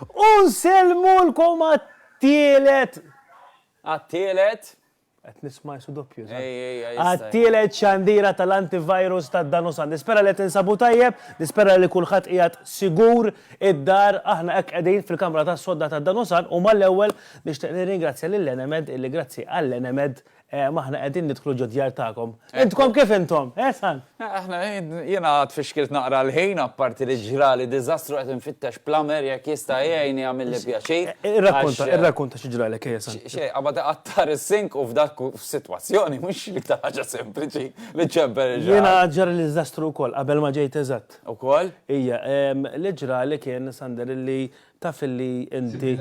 U nsellmulkom għat-tielet, għat-tielet, qed nisma' isu doppju, għat-tielet xandira tal-antivirus ta' dan u sa. Nispera li tinsabu tajjeb, nispera li kulħadd qiegħed sigur id-dar, aħna hekk qegħdin fil-kamra tas-sodda ta' dan u sa u mal-ewwel nixtieq nirringrazzja lil Enemed illi grazzi għall-Enemed Ehm, aħna qegħdin nidħlu ġo djar tagħkom. Intkom kif intom? Eh, san? Eh, aħna jiena għad fixkilt naqra l-ħin apparti li ġrali diżastru qed infittex plamer jekk jista' jgħini għamilli pjaċir. Eh, irrakkonta, eh, irrakkonta xi ġrali kejja san. Xej, qabad iqattar is-sink u f'dak f'sitwazzjoni mhux ta' ħaġa sempliċi li ċemper ġrali. Jiena ġrali diżastru wkoll qabel ma ġejt eżatt. Ukoll? Ija, ehm, li ġrali kien Sander li taf li inti.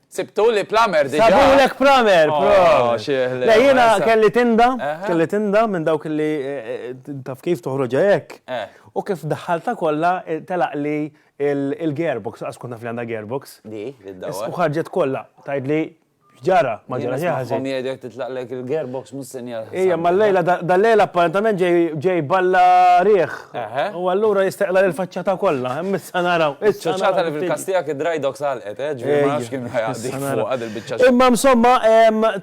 Sibtu li plumber diġa? Sabulek plumber, proset. Le jiena kelli tinda, kelli tinda minn dawk li taf kif toħroġha hekk. U kif daħħaltha kollha telaqli l-gearbox, lanqas kont naf li għandha gearbox. Di, li ddawwar. U ħarġet kollha, tgħidli x'ġara, ma ġara xejn ħażin. Hom jgħidu jekk titlaqlek il-gearbox mhux sinjal ħażin. Ejja, ma llejla, dal-lejl apparentament ġej balla riħ. U allura jisteqla l-faċċata kollha, hemm issa naraw. Iċ-ċaċata li fil-kastija kien dry dogs għalqet, eh, ġifieri ma nafx kien ħajaqdi fuq għad il-biċċa. Imma insomma,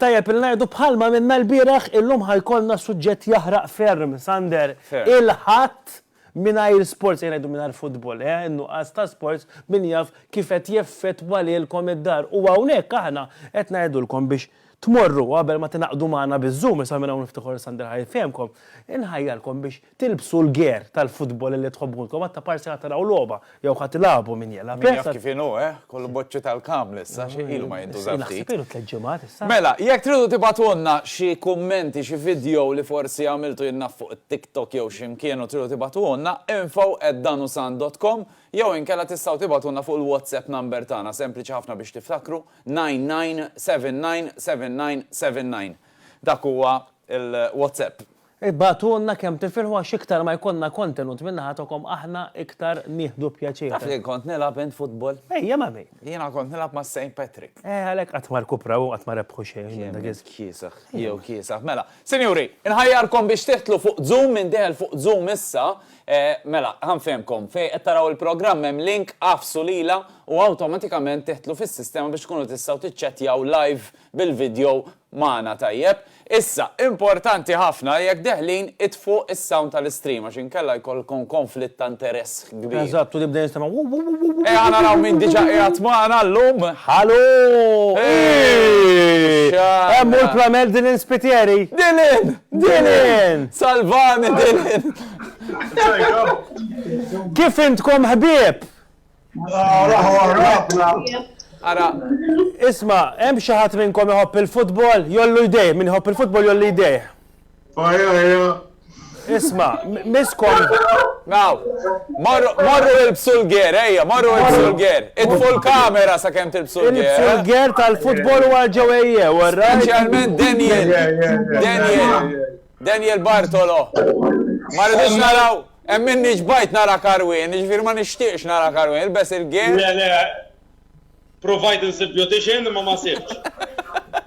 tajjeb li ngħidu bħalma għamilna l-bieraħ, illum ħajkollna suġġett jaħraq ferm, Sander. Il-Ħadd mingħajr sports, ejja ngħidu mingħajr futbol, eh, in-nuqqas ta' sports min jaf kif qed jeffettwa lilkom id-dar. U hawnhekk aħna qed ngħidulkom biex tmorru qabel ma tingħaqdu magħna biż-Zoom, issa minn hawn ftit ieħor Sander ħa jfehmkom, inħajjarkom biex Tilbsu l-gear tal-futbol illi tħobbulkom għad ta' parsi ħa taraw logħba jew ħa tilagħbu min jela. Min jaf kif inhu, eh? Kollu boċċi tal-kaml issa, xi ilu ma jintuża ftit. Naħseb ilu tliet ġimgħat issa. Mela, jekk tridu tibagħtulna xi kummenti, xi vidjow li forsi għamiltu jien naf fuq it-TikTok jew xi mkien u tridu tibagħtuhulna, info at danusan dot com jew inkella tistgħu tibagħtulna fuq il-WhatsApp number tagħna, sempliċi ħafna biex tiftakru, 99799979. Dak huwa il-WhatsApp. Ibgħatulna kemm tifirħu għax iktar ma jkollna kontenut minn naħa togħkom aħna iktar nieħdu pjaċir. Taf fejn kont nilgħab int futbol? Ejja ma' min? Jiena kont nilgħab ma' Saint Patrick. Eh għalhekk qatt ma rkupraw u qatt ma rebħu xejn minn dak iż-żmien. Kemm int kiesaħ, jew kiesaħ. Mela, sinjuri, inħajjarkom biex tidħlu fuq Zoom, min deħel fuq Zoom issa, mela, ħa nfehmkom, fejn qed taraw il-programm hemm link, agħfsu lilha u awtomatikament tidħlu fis-sistema biex tkunu tistgħu tiċċettjaw live bil-video Magħna tajjeb. Issa, importanti ħafna li jekk deħlin itfgħu is-sound tal-istream għax inkella jkollkom konflitt ta' interess kbir. Eżatt, u nibda nistennew wuw wuw wuw wuw wuw. Ejja naraw min diġà qiegħed magħna llum. Hallo! Eeeeh! X'għandna? Hemm hu l-plumber Dylan Spiteri! Dylan! Dylan! Salvani Dylan! Kif intkom ħbieb? Ara, isma, hemm xi ħadd minnkom iħobb il-futbol, jollu jdejh, min iħobb il-futbol jollu jdejh. Isma, miskom. Naw, morru il-bsulger, ejja, morru il-bsulger. Itfu l-kamera sa' kem til-bsulger. Il-bsulger eh? tal-futbol u għal-ġewejje, u Specialment Daniel. Daniel. Daniel Bartolo. Marridux naraw. Hemm minni ġbajt nara karwien, jiġifieri ma nixtieqx nara karwien, ilbes il-gear. Le le, provajt insib beautician imma ma sibtx.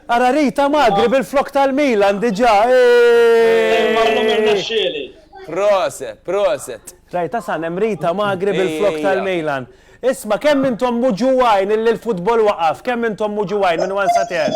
Ara Rita Magri bil-flokk tal-Milan diġà, eehh! Imma llum irnexxieli. Proset, proset. Rajt Hasan hemm Rita Magri bil-flokk tal-Milan. Isma' kemm intom muġugħin illi l-futbol waqaf, kemm intom muġugħin minn one sa ten?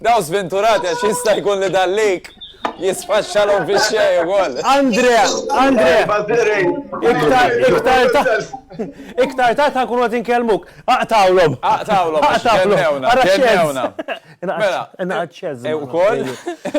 Dawn sventurati għax jista' jkun li dan l-ik jisfaxxalhom fix-xejn ukoll. Andrea, Andrea. Iktar, iktar ta' iktar ta' ta' nkunu qed inkellmuk. Aqtgħulhom. Aqtgħulhom. Aqtgħulhom. Ara x'għedna. Mela, inqgħad x'għeż. Ukoll,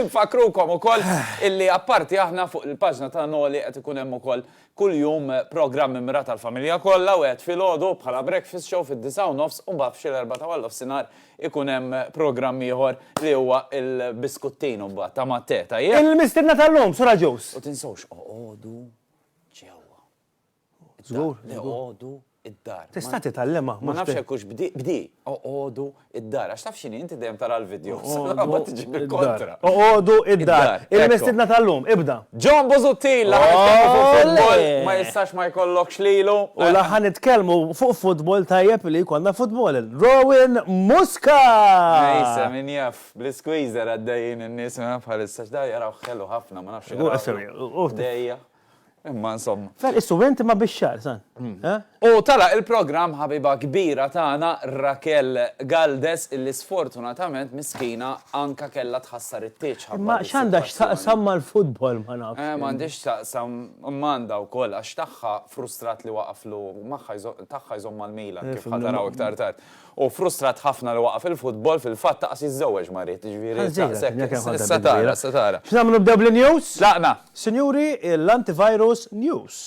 nfakkrukom ukoll illi apparti aħna fuq il-paġna ta' Noli qed ikun hemm ukoll Kuljum programm immrat għall-familja kollha u għedt filgħodu bħala breakfast show fid-disgħa u nofs u mbagħad f'xi l-erbgħa ta' warnofsinhar ikun hemm programm ieħor li huwa l-biskuttin u mbagħad ta' mat-te, tajjeb? Il-mistiedna tal-lum, Sur Agius. U tinsewx oqogħdu ġewwa. Żgur, żgur. Eqogħdu id-dar. Tista' titgħallimha. Ma nafx hekk hux bdi, bdi, oqogħdu id-dar. Għax taf x'inhi inti dejjem tara l-videos. Mbagħad tiġi bil-kontra. Oqogħdu id-dar. Il-mistiedna tal-lum, ibda. John Busuttil li ħa nitkellmu fuq futbol, ma jistax ma jkollokx lilu. U li ħa nitkellmu fuq futbol tajjeb li jkollna futbol. Rowan Musca! Nejsa, min jaf, bl-isqueezer għaddejjin in-nies bħalissa. X'da jaraw ħelu ħafna, ma nafx. Hu qasem, hu. Dejja. Imma insomma. Tal qissu int imma bix-xagħar, san. U tagħlaq il-programm ħabiba kbira tagħna Raquel Galdes illi sfortunatament miskina anka kellha tħassar it-tieġ ħabba Imma x'għandha x'taqsam mal-futbol ma nafx. Eh, m'għandhiex x'taqsam, imma għandha wkoll għax tagħha frustrat li waqaflu magħha tagħha jżomm mal-Milan kif ħa taraw iktar tard. Hu frustrat ħafna li waqaf il-futbol, fil-fatt aqas jiżżewweġ ma ried, jiġifieri nsaqsek, issa tara, issa tara. X'nagħmlu nibdew bl-news? Tlaqna! Sinjuri, l-antivirus news.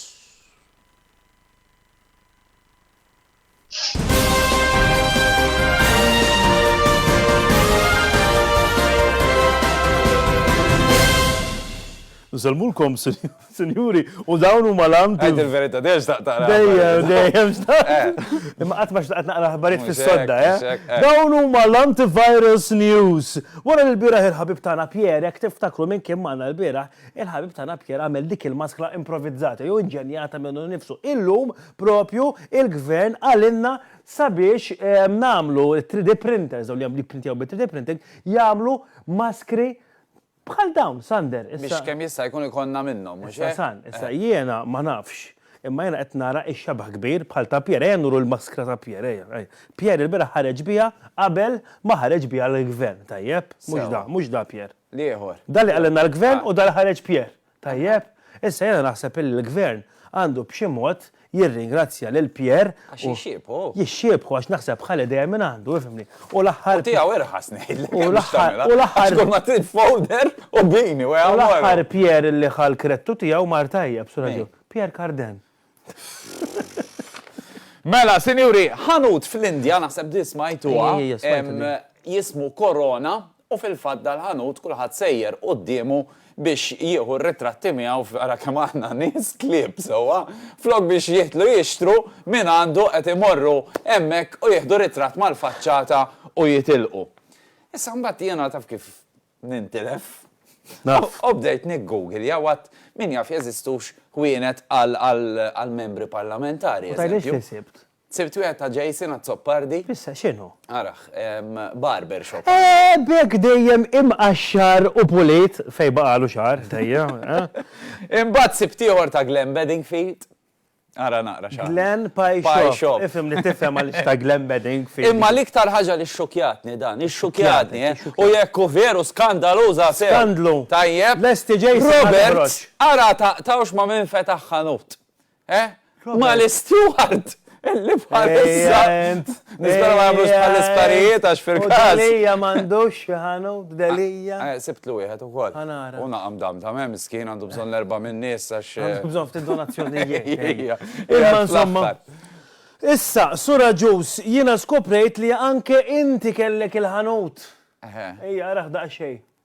Nsellmulkom, Sinjuri. Sinjuri, u dawn huma l-għamdu. Għajt il-verita, dejjem xtaqt taqra. Dejjem, dejjem xtaqt. Eh. Imma qatt ma xtaqt naqra ħbarijiet fis-sodda, eh? eh? Dawn huma l-antivirus news. Wara li l-bieraħ il-ħabib tagħna Pierre, jekk tiftakru minn kien magħna l-bieraħ, il-ħabib tagħna Pierre għamel dik il-maskla improvizzata jew inġenjata minnu nifsu. Illum propju il-gvern għalinna sabiex eh, nagħmlu 3D printers, dawn li jagħmlu printjaw bi 3D printing, jagħmlu maskri Bħal dawn, Sander, issa. Biex kemm jista' jkun ikollna minnhom, mhux hekk? Issa, San, issa jiena ma nafx, imma jiena qed nara x-xebah kbir bħal ta' Pierre. Ejja nuru l-maskra ta' Pierre, ejja, ejja. Pierre ilbieraħ ħareġ biha qabel ma ħareġ biha l-Gvern, tajjeb? Mhux da, mhux da Pierre. L-ieħor. Da li qalilna l-Gvern u da li ħareġ Pierre. Tajjeb, issa jiena naħseb illi l-Gvern għandu b'xi mod jirringrazzja lil Pierre u. Għax jixxiebħu. Jixxiebħu għax naħseb ħa l-idea minn għandu, ifhimni. U l-aħħar. U tiegħu irħas ngħidlek. U l-aħħar. U l-aħħar. Għax kull ma trid folder u bini u hemm. U l-aħħar Pierre illi ħa l-krettu tiegħu mar tajjeb, Sur Aġil. Pierre Carden. Mela, sinjuri, ħanut fl-Indja, naħseb di smajtuha, jismu Korona, u fil-fatt dal-ħanut kulħadd sejjer quddiemu biex jieħu r-ritratti miegħu f'ara kemm aħna nies klieb sewwa, flok biex jitlu jixtru minn għandu qed imorru hemmhekk u jieħdu ritratt mal-faċċata u jitilqu. Issa mbagħad jiena taf kif nintilef. Naf. U bdejt niggugilja u għadt min jaf jeżistux ħwienet għal membri parlamentari. U tgħidlix xi sibt? Sibt wieħed ta' Jason Azzopardi. Fissa x'inhu? Araħ, barber shop. Eh, b'hekk dejjem imqaxxar u pulit fejn baqagħlu xagħar, tejja. Imbagħad sibt ieħor ta' Glenn Bedingfield. Ara naqra x'għamel. Glen Pie Shop. Pie Shop. Ifhem li tifhem għaliex ta' Glen Bedding fi. Imma l-iktar ħaġa li xxukjatni dan, ixxukjatni, eh! U jekk hu veru skandaluża sew. Skandlu! Tajjeb. Lesti ġej sena toħroġ. Roberts, ara taqtgħux ma' min fetaħ ħanut. Eh? Ma' l-isteward illi bħalissa. Nispera ma jagħmlux bħall-isparijiet għax fil-każ. Delia m'għandux xi ħanut, Delia. Eh, sibtlu wieħed ukoll. Ħanara. U naqam dam ta' hemm miskin għandu bżonn l-erba' min-nies għax. Eh, għandu bżonn ftit donazzjonijiet. Imma insomma. Issa, sura ġus, jiena skoprejt li anke inti kellek il-ħanut. Ejja, raħ daqsxejn.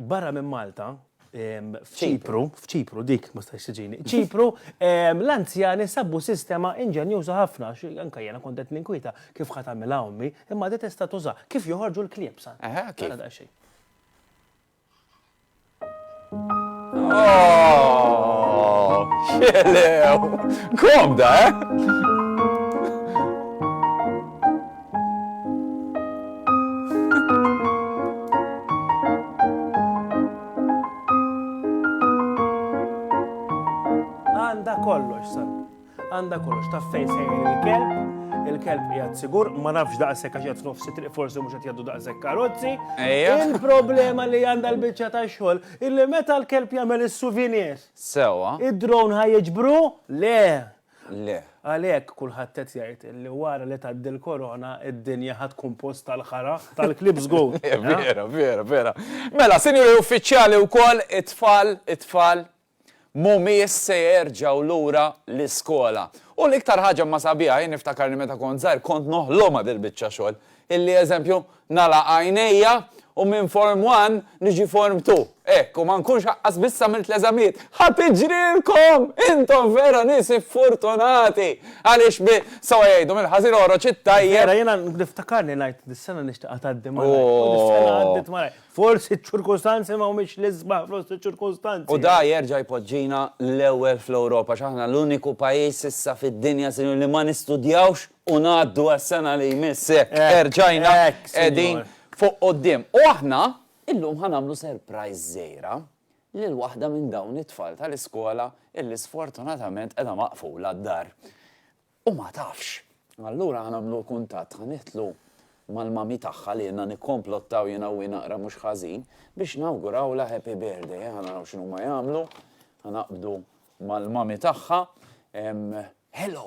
Barra minn Malta, f'Ċipru, f'Ċipru dik ma stajx tiġini, ċipru l-anzjani sabbu sistema inġenjuża ħafna, anka jena kontet ninkwieta kif ħat għamilha ommi, imma di tista' tuża kif joħorġu l-klieb sa. Xelew! Komda, eh? Għanda kollox, sar. Għanda kollox, ta' fejn sejn il-kelb, il-kelb jgħad sigur, ma nafx daqshekk għax jgħad nofsi triq forsi mhux qed jgħaddu daqshekk karozzi. Il-problema li għandha l-biċċa ta' xogħol illi meta l-kelb jagħmel is-souvenir. Sewa. Id-drone ħajġbru? Le, Le. Għalhekk kulħadd qed jgħid li wara li tgħaddi l-Korona d-dinja ħa tkun post tal-ħara, tal-klieb żgur. Vera, vera, vera. Mela, Sinjuri Uffiċjali wkoll it-tfal, it-tfal mhumiex se jerġgħu lura l-iskola. U l-iktar ħaġa imma sabiħa, jien niftakar li meta kont żgħir kont noħlomha dil-biċċa xogħol. Illi, eżempju, nagħlaq għajnejja u minn Form One niġi Form Two, hekk, u ma nkunx aqqas biss għamilt l-eżamijiet. Ħa tiġrilkom! Intom vera nies iffurtunati! Għaliex bi, sewwa jgħidu, mill-ħażin oħroġ it-tajjeb. Vera, jiena niftakarni ngħid, dis-sena nixtieqha tgħaddi malajr. U dis-sena għaddiet malajr. Forsi ċ-ċirkustanzi ma humiex l-isbaħ fost iċ-ċirkustanzi. U da jerġa' jpoġġina l-ewwel fl-Ewropa, għax aħna l-uniku pajjiż issa fid-dinja, sinjuri, li ma nistudjawx U ngħaddu għas-sena li jmiss hekk erġajna qegħdin fuq quddiem. U aħna illum ħa nagħmlu surprise żgħira lil waħda minn dawn it-tfal tal-iskola illi sfortunatament qiegħda maqfula d-dar u ma tafx. Allura ħa nagħmlu kuntatt, ħa nidħlu mal-mami tagħha li ilna nikkomplottaw jiena u hi naqra mhux ħażin biex nawgurawlha happy birthday. Ejja ħa naraw x'inhuma jagħmlu. Ħa naqbdu mal-mami tagħha. Hello!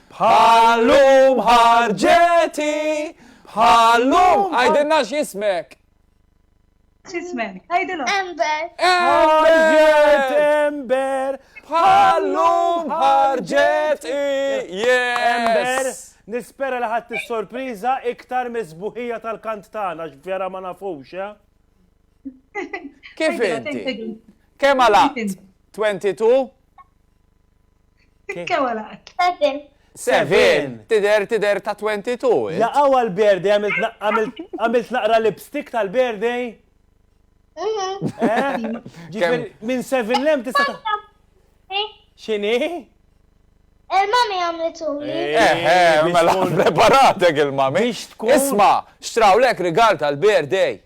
Bħal-lum ħarġet hi, bħal-lum. Għidilna x'jismek. X'ismek? Għidilhom. Ember. Ħarġet Ember. Bħal-lum ħarġet hi. Ember, nispera li ħadd is-sorpriża iktar miż-żbuħija tal-kant tagħna x'vera ma nafux, eh? Kif inti? Kemm għalaqt? 22? Seven. Seven! Tider, tider ta' 22. Jaqaw għal-birthday, għamilt naqra lipstick tal-birthday? Ġifir, minn seven lem tista' ta' Xini? Il-mami għamlitu li. Eħe, mela preparatek il-mami. Isma, xtrawlek rigal tal-birthday.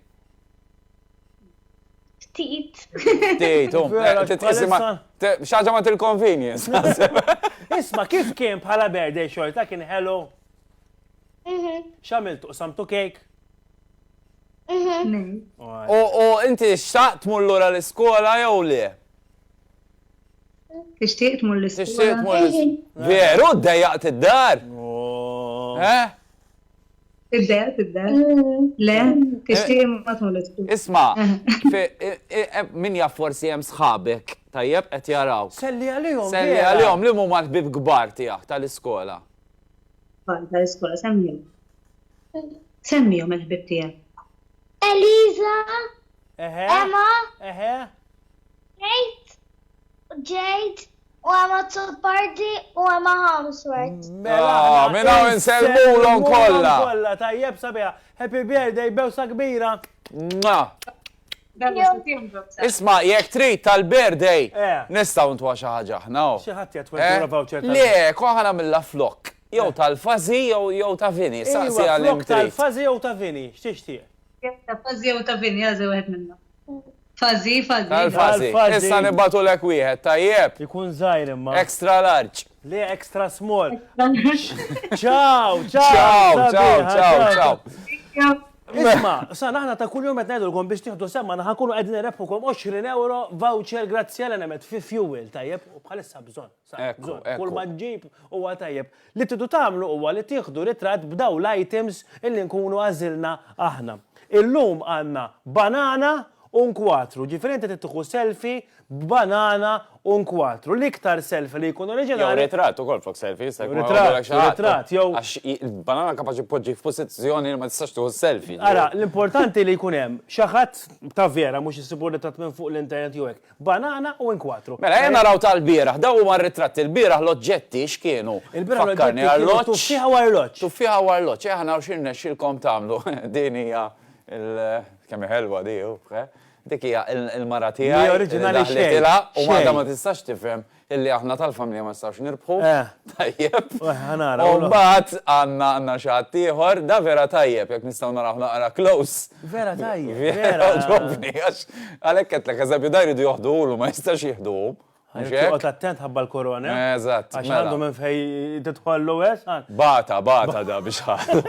Ftit. Ftit, u xaġa ma til-convenience. Isma, kif kien bħala birthday xorta kien hello? Mhm. Xamiltu, samtu kejk? Mhm. U inti xtaqt tmur lura l-iskola jew le? Tixtieq tmur l-iskola. Tixtieq tmur l-iskola. Veru, dejjaqt id-dar. Oh. Eh? Tibda, tibda. Le, tixtieq eh, ma tmollet. Isma, eh, min jaf forsi hemm sħabek, tajjeb qed jaraw. Selli għalihom. Selli għalihom li huma l-ħbib kbar tiegħek tal-iskola. Tal-iskola semmihom. Semmihom il-ħbib tiegħek. Eliza. Emma. Kate. Jade. U hemm Azzopardi u hemm Harmsworth. Mela aħna. Ah, minn hawn insellmulhom kollha. Kollha tajjeb sabiħa. Happy birthday bewsa kbira. Isma' jekk trid tal-birthday eh. nistgħu ntwa xi ħaġa aħna. Oh. Xi ħadd jgħid eh? voucher. Le, koħa nagħmilha flok. Jew eh. tal-fażi jew ta' vini. Saqsi għal tal-fażi jew ta' vini, x'tixtieq? Ta' fażi jew ta' vini, għażi wieħed minnhom. Fuzzy, fuzzy. Tal fuzzy. Issa nibgħatulek wieħed, tajjeb. Ikun żgħir imma. Extra large. Le extra small. Ciao, ciao. Ciao, ciao, ciao, ciao. Isma, sa naħna ta' kull jum qed ngħidulkom biex tieħdu semma naħa kunu qegħdin irebħukom 20 euro voucher grazzi għal emet fi fuel tajjeb u bħalissa bżonn. Kull ma ġġib huwa tajjeb. Li tridu tagħmlu huwa li tieħdu ritratt b'dawn l-items illi nkunu għażilna aħna. Illum għandna banana u nkwatru, ġifieri inti trid tieħu selfie b'banana u nkwatru. L-iktar selfie li jkun oriġinali. Jew ritratt ukoll flok selfie, jista' jkun jkollok xi ħadd. Ritratt, jew. Għax il-banana kapaċi tpoġġik f'pożizzjoni li ma tistax tieħu selfie. Ara, l-importanti li jkun hemm xi ħadd ta' vera, mhux issibu ritratt minn fuq l-internet jew hekk. Banana u inkwatru. Mela ejja naraw tal-bieraħ. Dawn huma r-ritratti. Il-bieraħ l-oġġetti x'kienu? Il-bieraħ l-oġġetti kienu tuffieħa u arloġġ. Tuffieħa u arloġġ. Ejja naraw x'irnexxielkom tagħmlu. Din hija l. Kemm hi ħelwa di, uff. Dik hija l-mara tiegħi li daħlitilha u m'għadha ma tistax tifhem Illi aħna tal-familja ma nistgħux nirbħu. Eh. Tajjeb. Eh, ħanara. U mbagħad għandna għandna xi ħadd ieħor, da vera tajjeb jekk nistgħu naraw naqra close. Vera tajjeb. Vera ġobni għax għalhekk qed lek eżempju da jridu joħduhlu ma jistax jieħduhom. Għot attent ħabba l-korona. Eh, eżatt. Għax mela. għandu minn fej titħollu għes. Bata, bata da biex ħallu.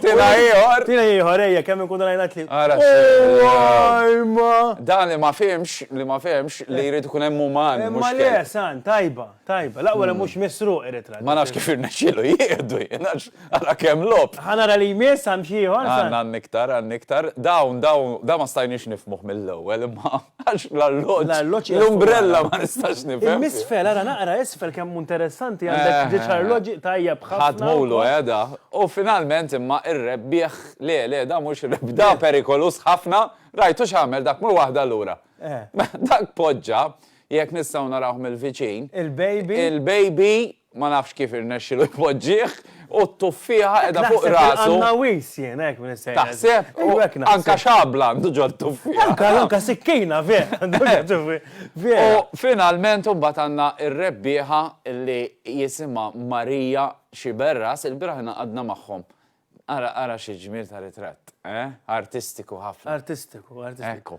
Tina ieħor. Tina ieħor ejja kemm inkunu rajna tliet. Ara x'għajma. Dan li ma fehmx, li ma fehmx li jrid ikun hemm uman. Imma le, san, tajba, tajba. L-aqwa li mhux misruq irid Ħa nafx kif irnexxielu jieħdu jien għax ara kemm logħob. Ħa nara li jmiss hemm xi ieħor. Għandna għandna iktar, għandna iktar. Dawn, dawn, dan ma stajniex nifhmuh mill-ewwel imma. Għax l-arloġġ, l-umbrella ma nistax nifhem. Il-misfel, ara naqra isfel kemm interessanti għandek ġieġ eh. arloġġi tajjeb ħafna. Ħadd mowlu qiegħda. Eh, u finalment imma ir-rebbieħ le le da mhux rebda eh. perikolus ħafna, rajtu x'għamel dak mur waħda lura. Dak poġġa, jekk nistgħu narawh mill-viċin. Il-baby. Il-baby Ma nafx kif irnexxilu jpoġġih u t-tuffieħa qiegħda fuq rasu. Naħseb il-qannawis jien hekk minn is-sejħa. Taħseb? Hu hekk naħseb. Anka xabla għandu ġol tuffieħa. Anka anka sikkina vera għandu ġol tuffieħa. Vera. U finalment imbagħad għandna r-rebbieħa li jisimha Maria Sciberras, ilbieraħ ingħaqadna magħhom. Ara, ara xi ġmiel ta' ritratt, eh? Artistiku ħafna. Artistiku, artistiku. Ekku.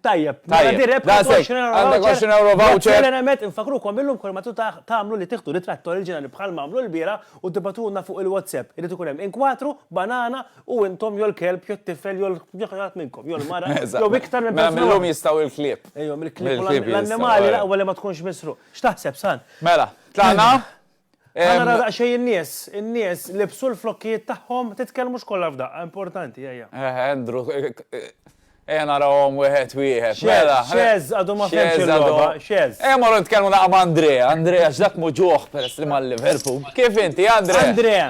Tajjeb, mela di rebħa ta' 20 euro voucher. Għandek 20 euro voucher. Grazzi Remet, infakrukom illum kull ma tagħmlu li tieħdu ritratt oriġinali bħal ma għamlu l-bieraħ u tibagħtulna fuq il-WhatsApp. Irid ikun hemm inkwatru, banana u intom jew l-kelb jew t-tifel jew l-ħadd minnkom, jew l-mara, jew iktar minn persuna. Mela illum jistgħu l-klieb. Ejja, mill-klieb u l-annimali l-aqwa li ma tkunx misruq. X'taħseb, San? Mela, tlaqna? Ħa naraw daqsxejn in-nies, in-nies libsu l-flokkijiet tagħhom, titkellmux kollha f'daqqa, importanti, ejja. Eħe, Andrew, ejja narawhom wieħed wieħed. Mela, xeż għadu ma fehmx il-logħba, xeż. Ejja morru nitkellmu daqqa ma' Andrea, Andrea x'dak muġuh peress li ma' Liverpool. Kif inti, Andrea? Andrea.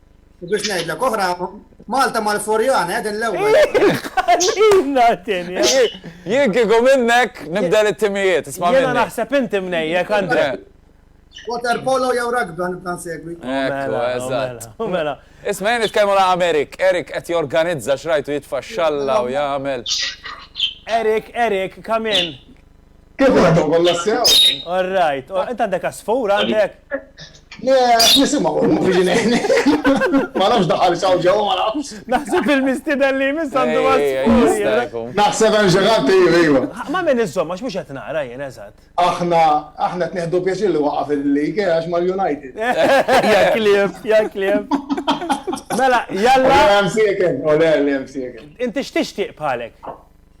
U biex ngħidlek oħra, Malta mal-Forjan, qegħdin l-ewwel. Ħallina tieni. Jien kieku minnek nibda it-timijiet, isma' Jiena naħseb inti mnejjek Andre. Water polo jew rugby nibda nsegwi. Mela, eżatt. Mela. Isma' jien nitkellmu la' Erik, Erik qed jorganizza x'rajtu jitfa' xalla u jagħmel. Erik, Erik, come in. Kif għadhom kollha sew? All right. Oh, inta għandek għasfur għandek? Le, nisimgħu biex ngħidni. Ma nafx daħal saw ġew ma nafx. Naħseb il-mistida li miss għandu għasfur. Naħseb hemm xi ħadd iva. Ma min iżomm għax mhux qed nara jien eżatt. Aħna aħna qed nieħdu pjaċir li waqaf il-lig eh, għax mal-United. Ja kliem, ja kliem. Mela, jalla. Ole hemm sieken, ole hemm sieken. Inti x'tixtieq bħalek?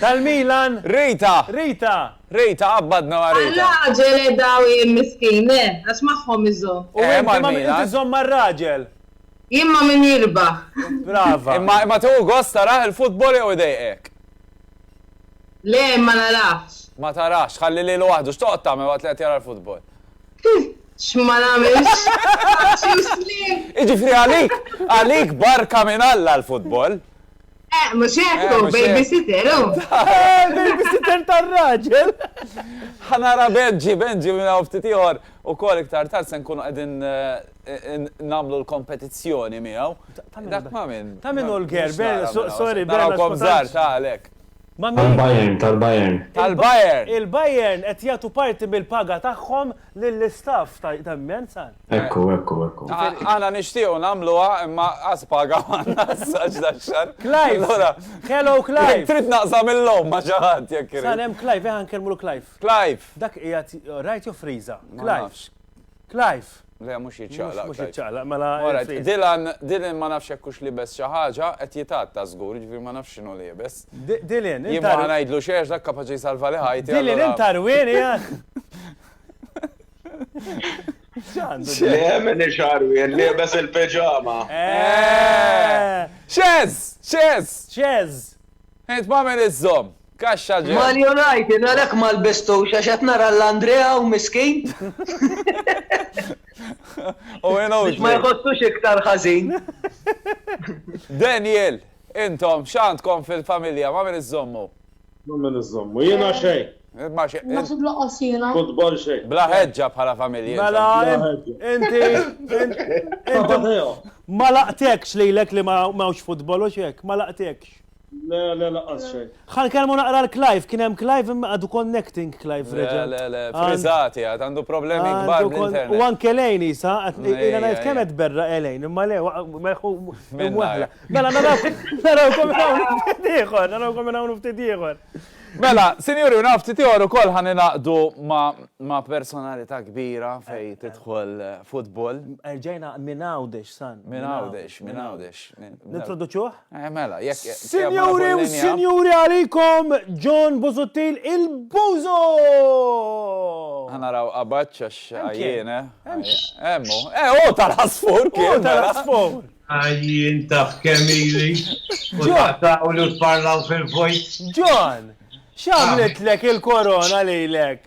Tal-Milan! Rita! Rita! Rita, qabbadna ma' Rita! Għar-raġel eh daw jien miskin eh, għax magħhom iżomm. U inti ma' min iżomm mar-raġel? Jien ma' min jirbaħ. Brava. Imma imma tieħu gost tarah il-futbol jew idejqek? Le, ma narahx. Ma tarax, tħalli lilu waħdu. X'toqgħod tagħmel waqt li qed jara l-futbol? X'ma nagħmilx? Paċi u sliem! Jiġifieri għalik, għalik barka minn Alla l-futbol. Eh, mhux hekk hu, babysitter hu. Babysitter tar-raġel. Ħa nara Benġi, Benġi minn hawn ftit ieħor ukoll iktar tard se nkunu qegħdin nagħmlu l-kompetizzjoni miegħu. Dak ma' min. Ta' min hu l-ger, sorry, Bernard. Narakom żgħar ta' għalhekk. Ma' min? Tal-Bayern, tal-Bayern. Tal-Bayern! Il-Bayern qed jagħtu parti mill-paga tagħhom lill-istaff ta' Immenz għal. Ekku, ekku, ekku. Aħna nixtiequ nagħmluha imma qas paga għandna issa għax dax-xahar. Clive! Hello, Clive! Trid naqsam il-logħob ma' xi ħadd jekk irid. Sakemm Clive, eħa nkellmulu Clive. Clive! Dak qiegħed, rajt jew friża? Clive! Clive! Le, mhux jiċċaqlaq. Mhux jiċċaqlaq, mela. All right, Dylan, Dylan ma nafx jekk hux liebes xi ħaġa, qed jitgħatta żgur, jiġifieri ma nafx x'inhu liebes. Dylan, int. Jien ma ħa ngħidlu xejn għax dak kapaċi jsalvali ħajti. Dylan, int għarwien, jgħid. X'għamel ix-xarwien liebes il-piġama. Xeż! Xeż! Xeż! Int m'għamel iż-żomm. Kaxxa ġenn. Mario ngħid jien għalhekk ma lbistux għax qed nara lil Andrea hawn miskin. U jien hawn. Biex ma jħossux iktar ħażin. Daniel, intom x'għandkom fil-familja ma' min iżżommu? Ma' min iżżommu. Jiena xejn. Ma xejn. Naħseb lanqas jiena. Futbol xejn. Bla ħeġġa bħala familja. Mela inti. Inti. Ma laqtekx lilek li m'hawnx futbol u x'hekk, ma laqtekx. Le, le, laqqas xejn. Ħan kelmu naqra l-Clive, kien hemm Clive imma għadu connecting Clive reġa'. Le, le, frizzati għad, għandu problemi kbar bl-internet. U anke lejn isa, ila ngħid kemm qed berra elejn, imma le, merħu imwaħla. Mela narawkom hawn ftit ieħor, narawkom hawn ftit ieħor. Mela, sinjuri u nafti tiegħor ukoll ħan inaqdu ma' personalità kbira fej tidħol futbol. Erġajna minn għawdex san. Minn għawdex, minn għawdex. Nintroduċuh? Sinjuri u Sinjuri għalikom John Busuttil il-Bużu! Ħa naraw qabaġ għax għajjien eh. Hemm hu. Eh hu tal-għasfur kien. Hu tal-għasfur. Għajjien taf kemm ili. U taqtgħulu tparlaw fil-vojt. John, x'għamlitlek il-korona lilek?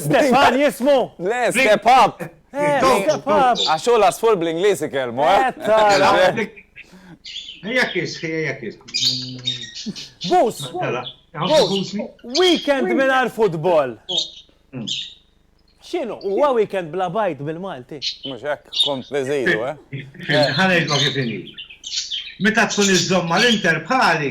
Stefan jismu? Le, step up! Step up! Għaxu l-asfur bl-Inglis ikelmu, eh? Ejja kis, ejja kis. Bus! Weekend minar futbol! Hmm. Xinu, huwa weekend bla bajt bil-Malti. Mux hekk, kont beżilu, eh? Ħanejt ma kif Meta tkun iż-żomma l-inter bħali,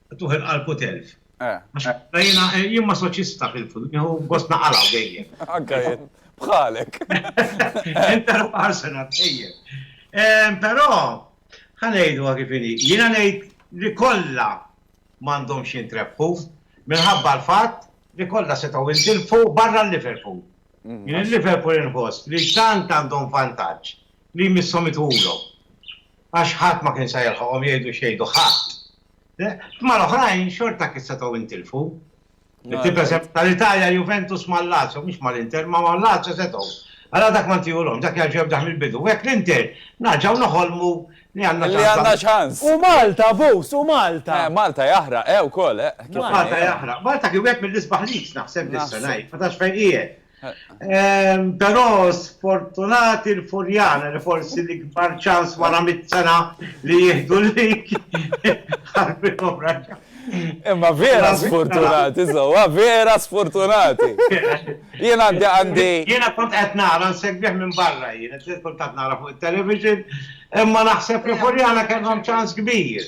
Tuħel qalbu telf. Jiena jien masoċista fil-fut, nieħu gost naqalgħu dejjem. Anke jien, bħalek. Inter Arsenal dejjem. Però ħanejdu kif inhi. Jiena ngħid li kollha m'għandhomx jintrebħu minħabba l-fatt li kollha setgħu jintilfu barra l-Liverpool. Jien il-Liverpool inħoss li tant għandhom vantaġġ li jmisshom itulhom. Għax ħadd ma kien se jilħaqhom jgħidu x'jgħidu ħadd. Ma l-oħrajn xorta kif setgħu intilfu. Tibda sepp tal-Italja, Juventus ma' Lazio, mhux ma' l-Inter, ma' ma' Lazio setgħu. Għala dak ma ntihulhomx, dak jarġa' jibda mill-bidu. Hekk l-Inter narġgħu noħolmu li għandna ċans. Li għandna ċans. U Malta, Vus, u Malta. Eh, Malta jaħraq, eh, ukoll, eh. Malta jaħraq. Malta kien wieħed mill-isbaħ leagues naħseb dis-sena, ma tafx fejn qiegħed. Però sfortunati l-Furjana li forsi l-ikbar ċans wara mitt sena li jieħdu l-lig ħarbithom raġa'. Imma vera sfortunati, żewwa, vera sfortunati. Jien għandi għandi. Jiena kont qed nara nsegwih minn barra jien, kultant nara fuq it-television, imma naħseb li Furjana kellhom ċans kbir.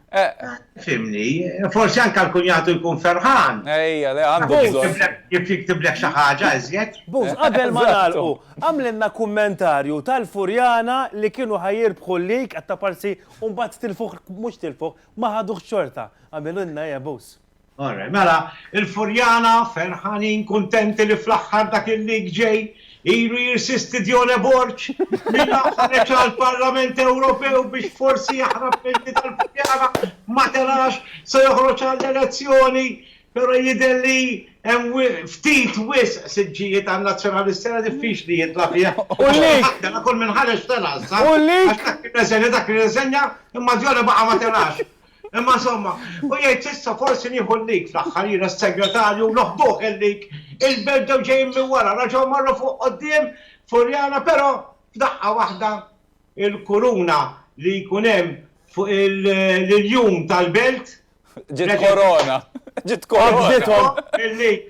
Fimni, forsi anka l-kunjatu jkun ferħan. Ejja, le għandu bżonn. Jif jiktibleħ xi ħaġa iżjed. Buz, qabel ma nagħlqu, għamlilna kummentarju tal-Furjana li kienu ħa jirbħu l-lig għat-Taparsi u mbagħad tilfuh, mhux tilfuh, ma ħaduhx xorta. Għamilulna, ejja Buz. Orre, mela, il-Furjana, ferħanin, kuntenti li fl-aħħar dak il-lig ġej, ilu jirsisti Dione Borg, li la ħareġ għall-Parlament Ewropew biex forsi jaħrab mill-li tal-Furjana, ma telax, se joħroġ għall-elezzjoni, però jidher li hemm ftit wisq siġġijiet għan-Nazzjonalist, sena diffiċli jitla' fiha. U l-lig? Tela' kull min ħareġ tela' issa. U l-lig? Għax dak irreżenja, dak irreżenja, imma Dione baqa' ma telax. Imma insomma, u jgħid s'issa forsi nieħu l-lig fl-aħħar jiena s-segretarju u noħduh il-lig, il-Belġ bdew ġejjin minn wara, raġgħu marru fuq quddiem Furjana però f'daqqa waħda l-kuruna li jkun hemm fuq l-iljun tal-belt, Ġiet korona! Ġiet korona! qabżithom il-lig.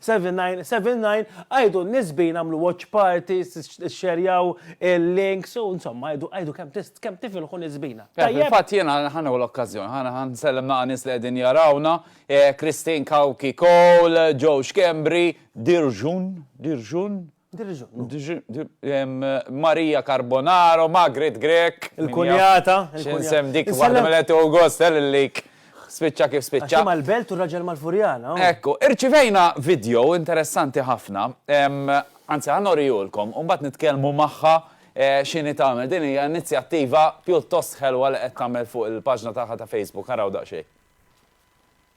7979 Għidu l-nisbin għamlu watch parties, xxerjaw il-links u insomma għidu għidu kemm tist kemm tifilħu nisbina. Eh, Tajjeb? fil-fatt jiena ħaneħu l-okkażjoni, ħana ħan sellem naqa' nies li qegħdin jarawna, eh, Christine Kawki Cole, Joe Schembri, Dirjun, Dirjun, Maria Carbonaro, Magrit Grech. Il-kunjata. X'insem dik waħda mill-għetu August, l-lik. Spiċċa kif spiċċa. Għaxi mal-belt u raġel mal-furjana. Ekku, irċivejna video interessanti ħafna. Anzi, għan orijulkom, un bat nitkelmu maħħa xini tamel. Din hija inizjattiva pjuttost ħelwa li qed tagħmel fuq il-paġna tagħha ta' Facebook. Għaraw daqsxejn.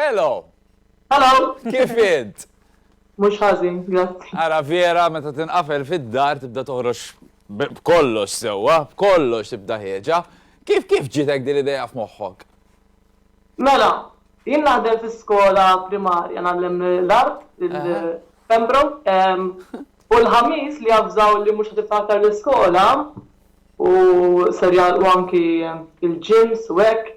Hello! Hello! Kif int? Mhux ħażin, grazzi. Ara vera meta tinqafel fid-dar tibda toħroġ b'kollox sewwa, b'kollox tibda ħieġa. Kif kif ġitek din l-idea f'moħħok? Mela, jien naħdem fi skola primarja, ngħallem l-art, il-Pembroke, u l-Ħamis li avżaw li mhux qed tiftħu aktar l-iskola u ser jagħlqu anki l-gyms u hekk,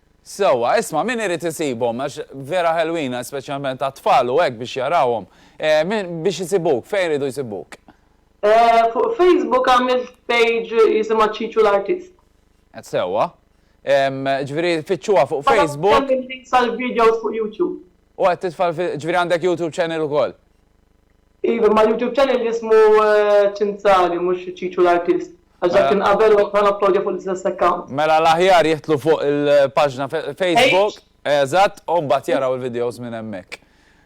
Sewwa, isma' min irid isibhom għax vera ħelwin speċjalment għat-tfal u hekk biex jarawhom. Biex isibuk, fejn iridu jsibuk? Fuq Facebook għamilt page jisimha Ċiċu l-Artist. Sewwa. Ġifieri fittxuha fuq Facebook. Għad hemm il-links għall-videos fuq YouTube. U qed titfa' ġifieri għandek YouTube channel ukoll? Iva, imma l-YouTube channel jismu Ċinzali mhux Ċiċu l-Artist. Għax dak kien qabel waqt ma napplodja fuq l-istess account. Mela l-aħjar jidħlu fuq il-paġna Facebook. Eżatt, u mbagħad jaraw il-videos minn hemmhekk.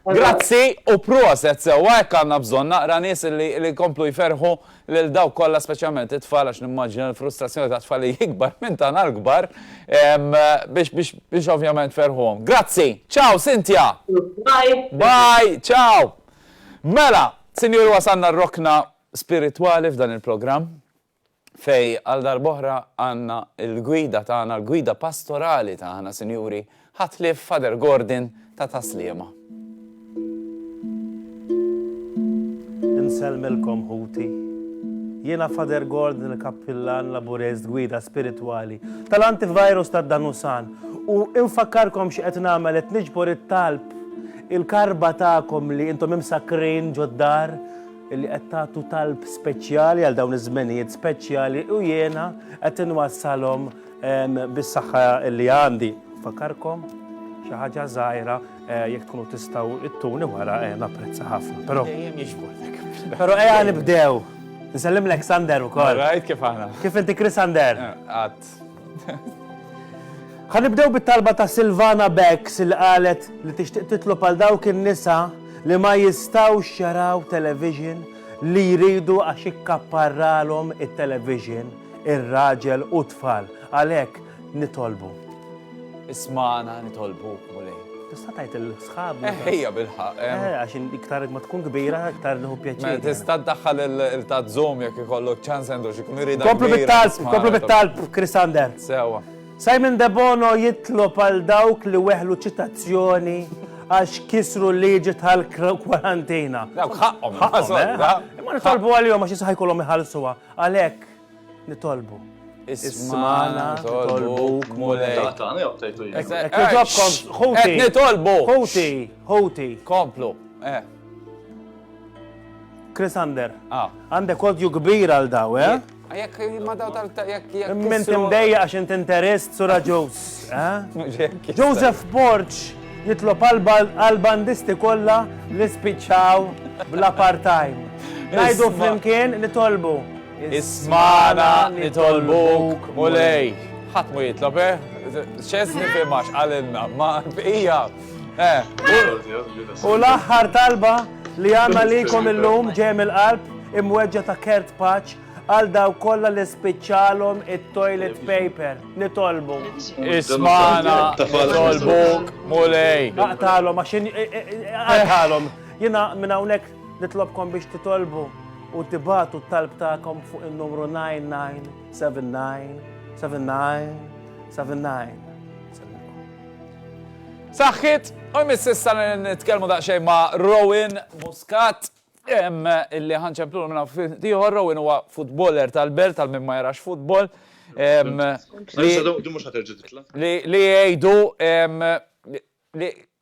Grazzi u proset sewwa hekk għandna bżonn naqra nies li li jkomplu jferrħu lil dawk kollha speċjalment it-tfal għax nimmaġina l-frustrazzjoni tat-tfal hi ikbar minn tagħna l-kbar biex biex biex ovvjament tferrħuhom. Grazzi. Ciao Cynthia. Bye. Bye. Ciao. Mela, sinjuri wasalna r-rokna spiritwali f'dan il-programm fejn għal darb'oħra għandna l-gwida tagħna, l-gwida pastorali tagħna, sinjuri, ħadd ħlief Father Gordon ta' Tas-Sliema. Insellmilkom ħuti. Jiena Father Gordon il-Kappillan Laburez gwida spiritwali tal-antivirus tad-Danusan u infakkarkom xi qed nagħmel qed niġbor it-talb il-karba tagħkom li intom imsakkrin ġod-dar li qed tagħtu talb speċjali għal dawn iż-żmenijiet speċjali u jiena qed inwassalhom bis-saħħa li għandi. Fakarkom xi ħaġa żgħira eh, jekk tkunu tistgħu ittuni wara eh, napprezza ħafna. Però Però ejja nibdew. Nsellim Alexander ukoll. Rajt kif aħna. Kif inti Chris Ander? Eh, għad. Ħa nibdew bit-talba ta' Silvana Becks li qalet li tixtieq titlob għal dawk in-nisa li ma jistgħux jaraw television li jridu għax ikkapparralhom it-television ir-raġel u t-tfal. Għalhekk nitolbu. Ismana nitolbuk, Mulej. Tista' tgħid il-sħab. Ejja bil-ħaq. Eh, eh. għax iktar ma tkun kbira, iktar nħu pjaċir. Tista' ddaħħal il-tazzum jekk ikollok ċans għandu xi kun irid. Komplu bit-talb, komplu bit-talb, Chris Ander. Sewa. Simon Debono jitlob għal dawk li weħlu ċitazzjoni għax kisru liġi tal-kwarantina. Dawk ħaqqom. Ħaqqom, eh? eh? Ma nitolbu għal-jom għax jisħajkolom iħalsuwa. Għalek, Nitolbu. Ismana, nitolbuk, mulej. Taqtani jew tajtu jien. Ek- ek- ek- Ġobkom, Qed ħuti, nitolbu. ħuti, ħuti. Komplu. Eh. Chris Ander, Ah. għandek odju kbir għal daw, eh? Jekk ma daw tal jekk jekk. Minn kissru- timdejja għax int interist sura ġus, eh? Mhux jekk kissru. Joseph Borg jitlob għal- għal-bandisti kollha li spiċċaw bla part-time. Najdu Isma. flimkien nitolbu. Ismana nitolbuk, Mulej. Ħadd mu jitlob, eh? X'eżni fi max għalilna, ma bqija. Eh. U l-aħħar talba li għandna likom illum ġem il-qalb imweġġa ta' kert paċ għal daw kollha li spiċċalhom it-toilet paper. Nitolbu. Ismana, nitolbu, mulej. Aqtalhom għax għaqtalhom. Jiena minn hawnhekk Nitlobkom biex titolbu u tibagħtu t-talb tagħkom fuq in-numru 99797979. Saħħit, u jmiss issa nitkellmu daqsxejn ma' Rowan Muscat illi ħanċemplulu minna ftit ieħor Rowan huwa futboler tal-belt għal min ma jarax futbol. Li jgħidu li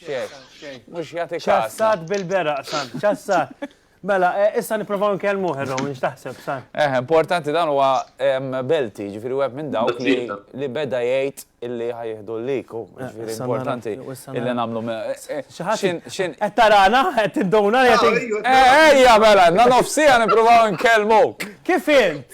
Xef, mux jati kas. Ċassat bil-beraq, san, ċassat. Mela, eh, issa niprofaw nkellmu ħerrom, nix taħseb, san. Eh, importanti dan huwa belti, ġifiri web minn dawk li beda jgħid illi ħajħdu l-liku, eh, ġifiri importanti illi namlu me. Eh, xaħat, xin. Ettarana, et id-dona, et id-dona. Ejja, mela, na nofsija niprofaw nkellmu. Kif int?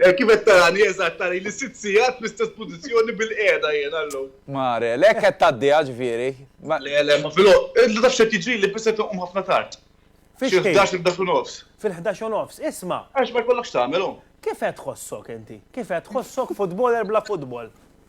Kif qed tarani, eżatt, tarili sitt sigħat fl-istess pożizzjoni bilqiegħda jiena llum. Marel, hekk qed tgħaddiha ġifieri? Le, le, ma fil. Inti taf x'qed jiġrili, biss qed inqum ħafna tard. Fi x'ħin? Xi ħdax, il-ħdax u nofs. Fil-ħdax u nofs, isma'. Għax ma jkollok x'tagħmel, hu. Kif qed tħossok inti? Kif qed tħossok futboler bla futbol?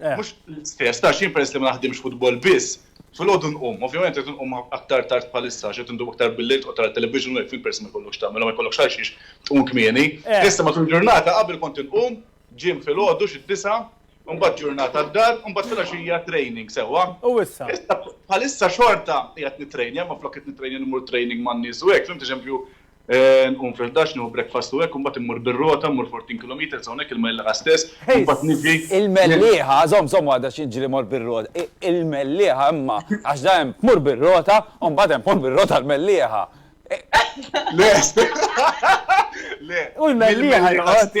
Eh. Mhux l-istess, ta' xin peress li ma naħdimx futbol biss, fil-għodu nqum, ovvjament qed nqum aktar tard bħalissa għax qed ndumu aktar bil-lejl tqgħod tara television u hekk fil peress ma jkollokx tagħmel u ma jkollokx għal xiex tqum kmieni. Eh. Issa matul ġurnata qabel kont inqum gym fil-għodu xi d-disgħa, imbagħad ġurnata d-dar, imbagħad filgħaxija training sewwa. U issa? Issa bħalissa xorta qiegħed nittrejnja imma flok qed nittrejnja immur training man-nies u hekk, fhimt, eżempju, Nqum fil-ħdax, nieħu breakfast u hekk, u mbagħad immur bir-rota, mmur 14 kilometres, hawnhekk il-Mellieħa stess, u mbagħad niġi. Il-Mellieħa, żomm, żomm waħda xi niġri mmur bir-rota. Il-Mellieħa imma, għax dejjem tmur bir-rota, u mbagħad hemm tmur bir-rota l-Mellieħa. Le, le. U l-Mellieħa joqgħod.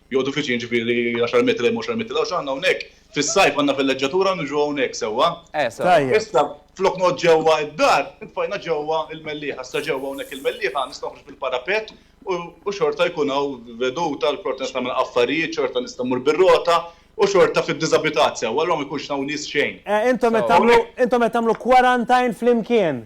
Joqogħdu viċin ġifieri għaxar metri hemm u għaxar metri 'l hawn x'għandna hawnhekk? Fis-sajf għandna villeġġatura u niġu hawnhekk sewwa? Eh sewwa. Issa flok noqgħod ġewwa d-dar, intfajna ġewwa l-mellieħa. Issa ġewwa hawnhekk il-mellieħa nista' noħroġ bil-parapett u xorta jkun hawn veduta, xorta nista' nagħmel affarijiet, xorta nista' mmur bir-rota u xorta fid-diżabitat sewwa, allura ma jkunx hawn nies xejn. Eh intom qed tagħmlu intom qed tagħmlu quarantine flimkien?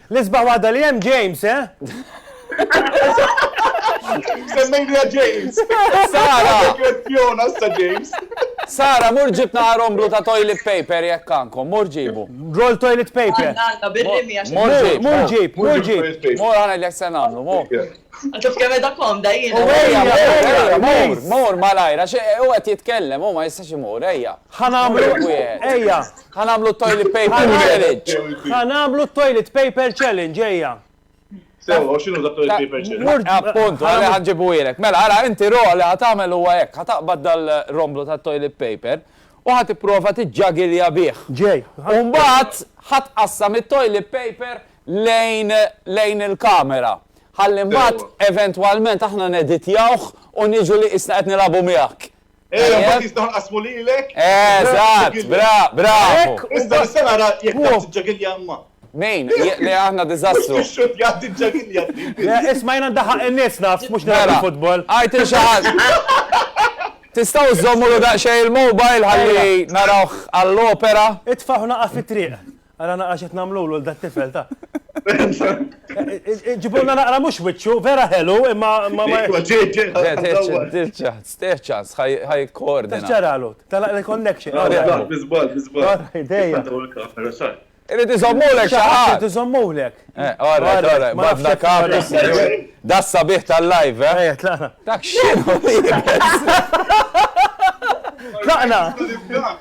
L-isbaħ waħda li hemm James, eh? Semmejniha James. Sara! Kwestjona issa James. Sara, mur ġibna qarom blu ta' toilet paper jekk għandkom, mur ġibu. Roll toilet paper. Mur ġib, mur ġib, mur ġib. Mur għana li se nagħmlu, mur. Għataf kemm edha komda jien. Mur, malajra, u għet jitkellem, u ma jistax imur, ejja. Ħanamlu, ejja. Ħa nagħmlu t-toilet paper challenge! Ħa nagħmlu t-toilet paper challenge, ejja! Sewwa, u x'inhu dak toilet paper challenge? Appuntu, għalhekk ħa nġibuhielek. Mela, ara, inti Ro li ħa tagħmel huwa hekk, ħa taqbad dal-romblu tat-toilet paper u ħa tipprova tiġġagilja bih. Ġej. U mbagħad ħa tqassam it-toilet paper lejn lejn il-kamera. Ħalli mbagħad eventwalment aħna neditjawh u niġu li qisna qed nilagħbu miegħek. Eh, ma tista' nqasmu lilek. Eżatt, eh, bra, bra. Issa se nara jekk taf tiġġagilja imma. Min? Le aħna diżastru. Mhux tixxut jgħaddi ġġagilja. Isma' jiena ndaħaq in-nies naf, mhux nara futbol. Għajt il xi ħadd. Tistgħu żommulu daqsxejn il-mobile ħalli narawh għall-opera. Itfagħu naqa' fit-triq. Ara naqra x'qed nagħmlulu lil dat-tifel ta'. Ġibulna naqra mhux wiċċu, vera ħelu, imma ma ma. Tirċa, sterċa, ħaj koordina. Tirċaralu, telaq il-connection. Biżbal, biżbal. Dejja. Irid iżommulek xi ħadd. Irid iżommulek. Ora, ora, ma fda kapis. Da sabiħ tal-live, eh? Dak xi. Tlaqna.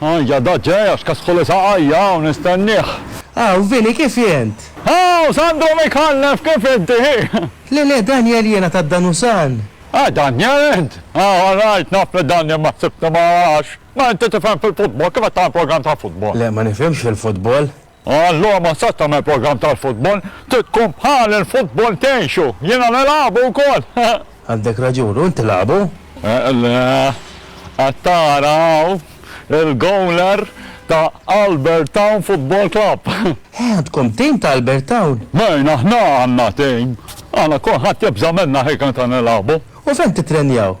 Ajja da ġej għax kasħuli saqa' hija hawn nistennieh. Aw, Vili kif int? Aw, Sandro Micallef kif inti? Le le, Daniel jiena ta' Danusan. Ah, Daniel int? Aw, rajt, naf li Daniel ma ħsibtu magħha għax, ma inti tifhem fil-futbol, kif qed tagħmel programm tal-futbol? Le, ma nifhimx fil-futbol. Allura ma tistax tagħmel programm tal-futbol, trid tkun bħal il-futbol tgħixu, jiena nilagħbu wkoll. Għandek raġun, u inti lagħbu? Le, qed tara hawn il-gowler ta' Albertown Football Club. Eh, għandkom tim ta' Albertown? Mejn, aħna għandna tim. Aħna kulħadd jibża' minna ħiekn qed nilagħbu. U fejn tittrenjaw?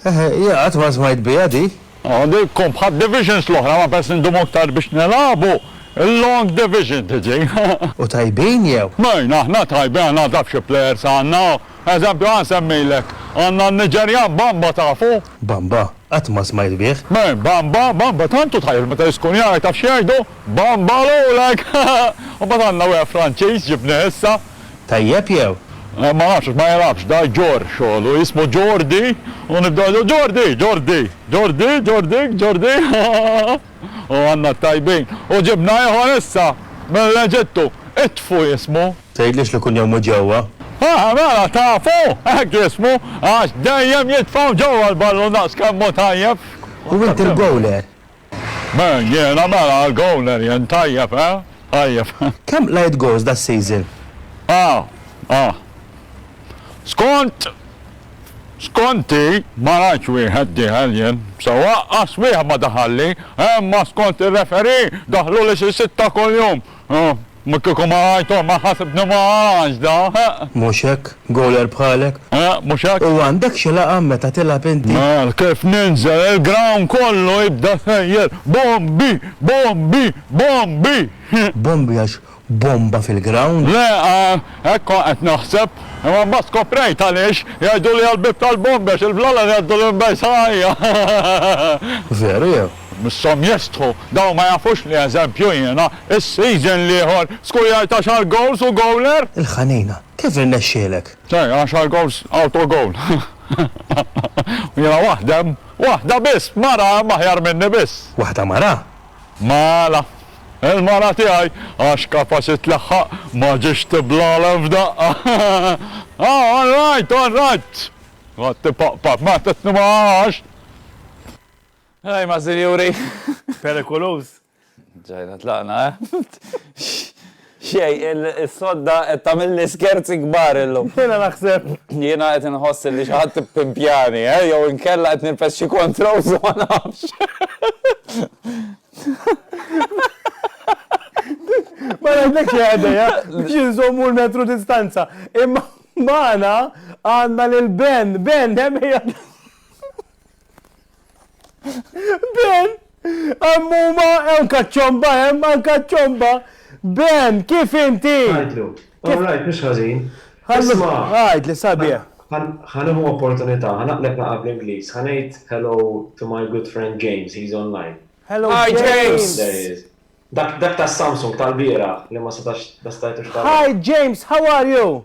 Eħe, jien qatt ma smajt biha di. Aha, di tkun bħad divisions l-oħra ma pers indumu aktar biex nilagħbu, il-long division tiġi. U tajbin jew? Mejn, aħna tajbin, aħna taf xi players għandna, eżempju ħa nsemmilek, għandna n-Niġerjan Bamba tafu? Bamba? Qatt ma smajt bih. Mejn, Bamba, Bamba tant hu tajjeb li meta jiskun jgħid taf x'jgħidu, Bamba lulek! U mbagħad għandna wieħed Franċiż ġibnieh issa, Tajjeb jew? Ma nafx għax ma jilgħabx, da jġorr xogħlu, jismu Ġordi u nibdew ngħidu Ġordi! Ġordi! Ġordi! Ġordi! Ġordi! U għandna t-tajbin. U ġibna ieħor issa mill-Eġittu, Itfu jismu. Tgħidlix li kuljawm hu ġewwa? Aha, mela tafu! Hekk jismu, għax dejjem jitfgħu ġewwa l-ballun daqskemm hu tajjeb. U inti l-gowler? Beh jiena mela għal goaler jien tajjeb eh? Tajjeb eh? Kemm qlajt goals da season? Ah ah Skont skonti ma rajtx wieħed dieħel jien sewwa aqqas wieħed ma daħalli eh imma skont ir-referee daħluli xi sitta kuljum. Ma kieku ma għajtu ma ħasibni ma għaġda, eħ. Mhux hekk, goaler bħalek. Eħ, mhux hekk. U għandek xi laqam meta tilgħab inti? Mela, kif ninżel il-ground kollu jibda jsejjer, Bombi! Bombi! Bombi! Bombi għax bomba fil-ground? Le, hekk kont qed naħseb, imma mbagħad skoprejt għaliex jgħiduli għall-bieb tal-bombi għax il-blala li jgħaddu l-imbejsa għajja. Veru jew? Misshom jestħu, dawn ma jafux li eżempju jiena, is-season l-ieħor, skujajt għaxar goals u goaler! Il-Ħanina, kif irnexxielek? Ċe, għaxar goals autogoal. U jiena waħdem, waħda biss, mara hemm aħjar minni biss. Waħda mara? Mela, il-mara tiegħi, għax kapasi tlaħħaq, ma ġietx tiblalem f'daqqa. Ah, all right, all right! Qgħadt tipaqpaq, ma tetni ma għax! Ej, ma sinjuri. Perikoluż. Ġajna tlaqna, eh? Xej, il-sodda qed tagħmilni skerzi kbar illum. Jiena naħseb. Jiena qed inħoss li xi ħadd pimpjani, eh? Jew inkella qed nilbes xi kontrols ma nafx. Ma ngħidlek xi ħadd ja, biex inżommu l-metru distanza. Imma magħna għandna lil Ben, Ben hemm Ben, għammuma, għan kaċċomba, għan kaċċomba. Ben, kif inti? Għajdlu, all right, mux ħazin. Għajdlu, għajdlu, sabi. ħanuħu opportunità, ħanaqlek naqa bl-Inglis, ħanajt hello to my good friend James, he's online. Hello, Hi, James. There he is. Dak dak ta' Samsung tal-bira li ma setax bastajtu x'tal. Hi James, how are you?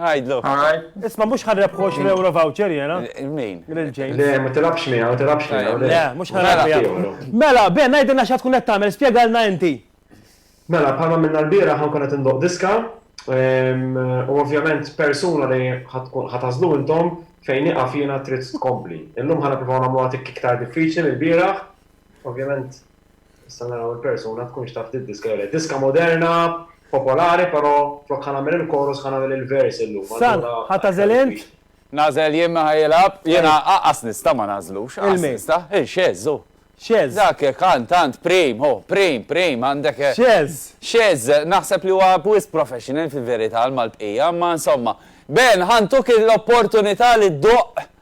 Għajdlu. Isma mux ħarreb 20 euro voucher jena. Min? L-ġejn. Le, ma tilabx mija, ma tilabx mija. Le, mux ħarreb mija. Mela, ben, najdilna xa tkun għettamel, spiegalna inti. Mela, bħalma minna l-bira ħankun għet ndoq diska, u ovvjament persuna li ħatazlu intom fejn iqaf jena trid tkompli. Illum ħana provaw namlu għatik iktar diffiċli mill-biraħ, ovvjament Issa naraw il-persuna tkunx taf tiddiska jew le. Diska moderna, popolari, però flok ħa nagħmel il-chorus ħa nagħmel il-verse illum. San, ħa tagħżel int? Nagħżel jien min ħa jilgħab? Jiena aqqas nista' ma nagħżlux, aqqas nista'. Hi, xeż hu. Xeż. Dak kant tant prim, hu, prim, prim, għandek. Xeż. Xeż, naħseb li huwa wisq professional fil-verità għal mal-bqija, imma insomma. Ben, ħa ntuk l-opportunità li ddoqq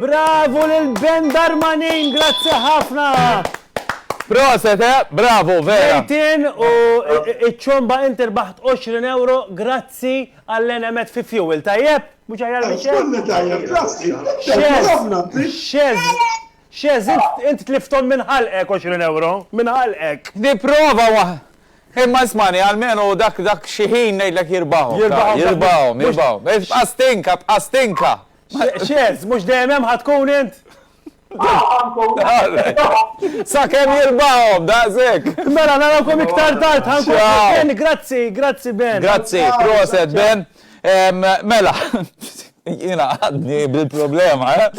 Bravu lil band Armanin, grazzi ħafna! Proset, eh? Bravo, vera. Ejtin u iċ-ċomba inti rbaħt 20 euro grazzi għall-enemet fi fuel, tajjeb? Mhux aħjar minn xejn? Kullu tajjeb, grazzi. Xeż, xeż. X'għeżż, int, int tlifthom minn ħalqek għoxrin ewro, minn ħalqek! Nipprova wa. Imma ismagħni, almenu dak, dak xi ħin ngħidlek jirbahom. Jirbahom, dak. Jirbahom, jirbahom. Mhux. Ibqa' stinka, bqa' stinka! X', x'għeżż, mhux dejjem hemm ħa tkun int? Aw, ħa nkun. All-right. Sakemm jirbahom, daqshekk! Mela, narawkom iktar tard, ħa nkun. Ciao. Ben, grazzi, grazzi Ben. Grazzi, proset Ben. Mela, jiena għadni bil-problema, eh?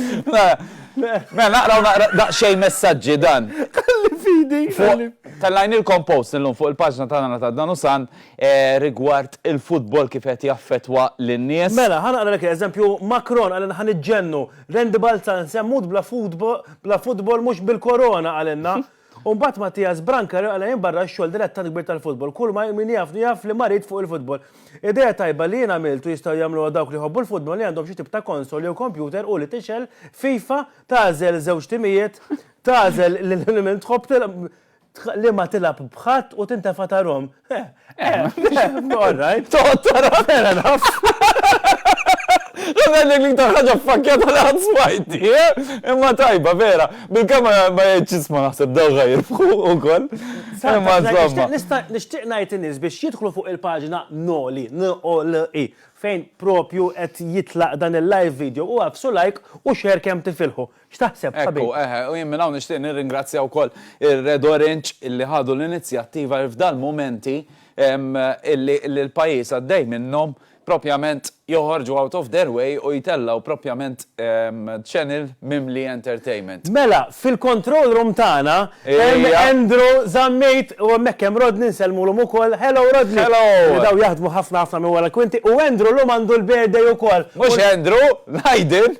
Mela, naqraw naqra daqxej messagġi dan. Kalli fidi. Tal-lajn il-kompost l-lum fuq il-paġna tagħna ta' dan usan eh, rigward il-futbol kif qed jaffetwa lin-nies. Mela, ħanaqra lek eżempju Macron għal ħan iġġennu. Rendi Balzan semmut bla futbol mhux bil-korona għalenna. U mbagħad Mattias Branka li qala' jien barra x-xogħol dilettant kbir tal-futbol. Kulma hi min jafni jaf li marid fuq il-futbol. Idea tajba li jien għamilt u jistgħu jagħmluha dawk li jħobbu l-futbol li għandhom xi tip ta' konsol jew kompjuter hu li tixgħel FIFA, tagħżel żewġ timijiet, tagħżel lil min tħobb tilgħab, liema tilgħab b'ħadd u tintefa' tarhom. Eh, eh, all right. Toqgħod tara. Fair enough. Għadna li l-iktar ħagġa fakkjata li għad smajti, eh? imma tajba, vera. Bil-kama ma jgħidxisma naħseb dawga jirfħu u koll. Imma zomma. Nishtiq najt nis biex jidħlu fuq il-pagina noli, n-o-l-i, fejn propju qed jitlaq dan il-live video u għafsu like u xer kem tifilħu. X'taħseb, ħabib? Ekku, eħe, u jien minn hawn nixtieq nirringrazzja wkoll ir-Red Orange illi ħadu l-inizjattiva li f'dal-mumenti illi l-pajjiż għaddej minnhom, propjament joħorġu out of their way u jtellgħu propjament channel mimli entertainment. Mela, fil-control room tagħna hemm Andrew Zammit u hemmhekk hemm Rodney, nsellmulhom ukoll. Hello, Rodney! Hello! Li dawn jaħdmu ħafna ħafna minn wara l-kwinti u Andrew llum għandu l-birthday ukoll. Mhux Andrew, l-Aiden!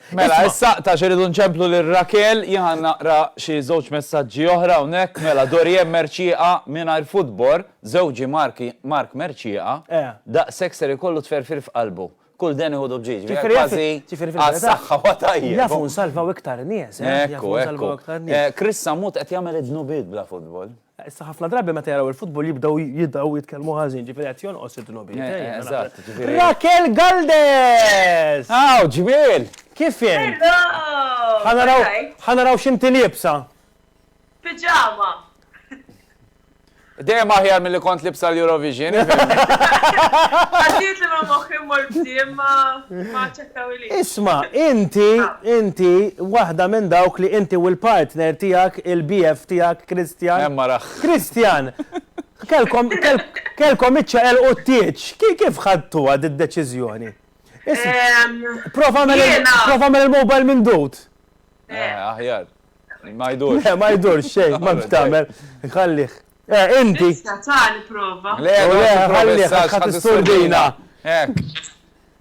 Mela, issa tax irridu nċemplu lil Raquel, jien ħa naqra xi żewġ messaġġi oħra hawnhekk. Mela, Dorienne Mercieqa mingħajr futbor, żewġi Mark Mark Mercieqa, daqshekk ser ikollu tferfir f'qalbu. Kull deni ħudu b'ġieġ, via kważi għas-saħħa huwa tajjeb. Jafu nsalvaw iktar nies, eh. Ekku, ekku. Chris Sammut qed jagħmel id-dnubiet bla futbol. Issa ħafna drabi meta jaraw il-futbol jibdew jidgħu jitkellmu ħażin, ġifieri qed jonqos id-dnubijiet. Eh, eh, eżatt, ġifieri. Rakel Galdes! Aw, ġmiel! Kif jen? Ħanaraw ħanaraw x'inti libsa. Piġama. Dejjem aħjar milli kont libsa l-Eurovision. Għaddiet li ma moħħi mor bżiem ma Isma', inti, inti, waħda minn dawk li inti u l-partner tiegħek, il-BF tiegħek, Christian. Hemm ara. Christian, kellkom, kellkom iċċaqelqu t-tieġ. Kif ħadtuha d-deċiżjoni? Prova mel il-mobile minn dut. Aħjar. Ma jdurx. Le, ma jdurx xejn, ma bxtamel. Ħallih. Eh, inti. Issa ta' prova. Le, ħallih, ħadd is-surdina. Hekk.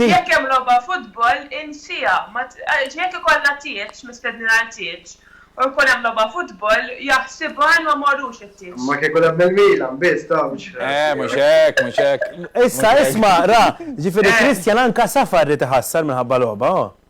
Jekk hemm logħba futbol, insiha. Jekk ikollna tieġ, mistednin għal tieġ, u jkun hemm logħba futbol, jaħsibha li ma mmorrux it-tieġ. Ma kieku lagħbna l-Milan biss, ta' mhux hekk. Eh, mhux hekk, mhux hekk. Issa isma', ra, ġifieri Christian anka safar irid iħassar minħabba logħba, oh.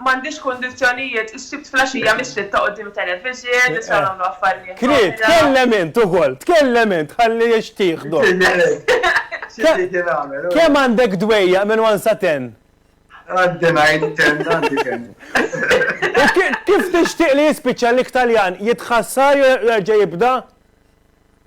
M'għandix kundizzjonijiet, is-Sibt flaxija mis-sitta quddiem it-television, nisa jagħmlu affarijiet. Kriet, tkellem int ukoll, tkellem int ħalli jixtieħdok. Kemm għandek dwejjaq minn one sa ten? Għandi ngħid ten, għandi ten. U kif tixtieq li jispiċċa l-iktaljan, jitħassar jew jerġa' jibda?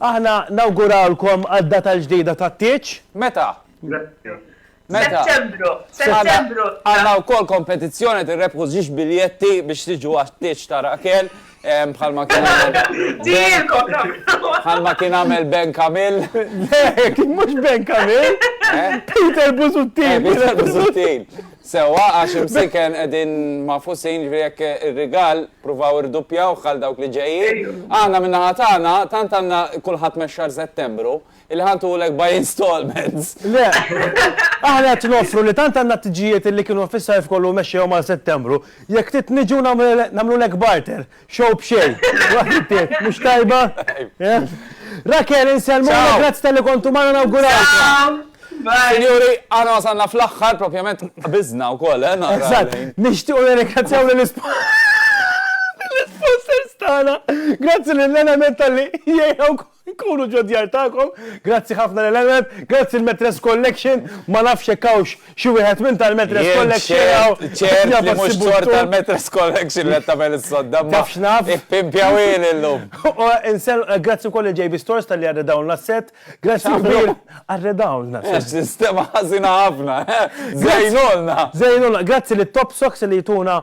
Aħna nawgurawlkom għad-data l-ġdida tat-tieġ. Meta? Meta? Settembru. Settembru. Għandna wkoll kompetizzjoni qed irrebbħu żġieġ biljetti biex tiġu għat-tieġ ta' Raquel bħalma kien għamel. Dielkom nagħmlu. Bħalma kien għamel Ben Camille. Le, kien mhux Ben Camille. Peter Busuttil. Peter Busuttil. Sewwa, għax imsiken qegħdin magħfusin, jiġifieri jekk ir-rigal pruvaw irduppjawh għal dawk li ġejjin. Aħna min-naħa tagħna tant għandna kulħadd mex-xahar Settembru illi ħa ntuwlek by instalments. Le, aħna qed noffru li tant għandna t-tiġijiet illi kienu fis-sajf kollu mexxejhom għal Settembru, jekk trid niġu nagħmlulek barter, Show b'xejn. Waħdiet, mhux tajba? Rakel, insellmulek, grazzi tal-li kontu magħna nawguralkom. Sinjuri, għana wasalna fl-axħar, propjament bizna u koll, eh? Eżat, nishtiq u nirringrazzjaw l-sponsors tana. Grazzi l-element tal-li jgħu Nkunu ġod-djar tagħkom. Grazzi ħafna lil Emmet, grazzi l-Metres Collection, ma nafx jekk hawnx xi wieħed minn tal-Metres Collection hawn. Jien ċert, ċert li mhux sors tal-Metres Collection li qed tagħmel is-sodda, imma taf x'naf, ippimpjawhieli llum. Grazzi wkoll lil JB Stores talli arredawlna s-sett. Grazzi kbir. Arredawlna s-sett. Sistema ħażina ħafna, żejnulna. Żejnulna. Grazzi lit-Top Socks li jtuna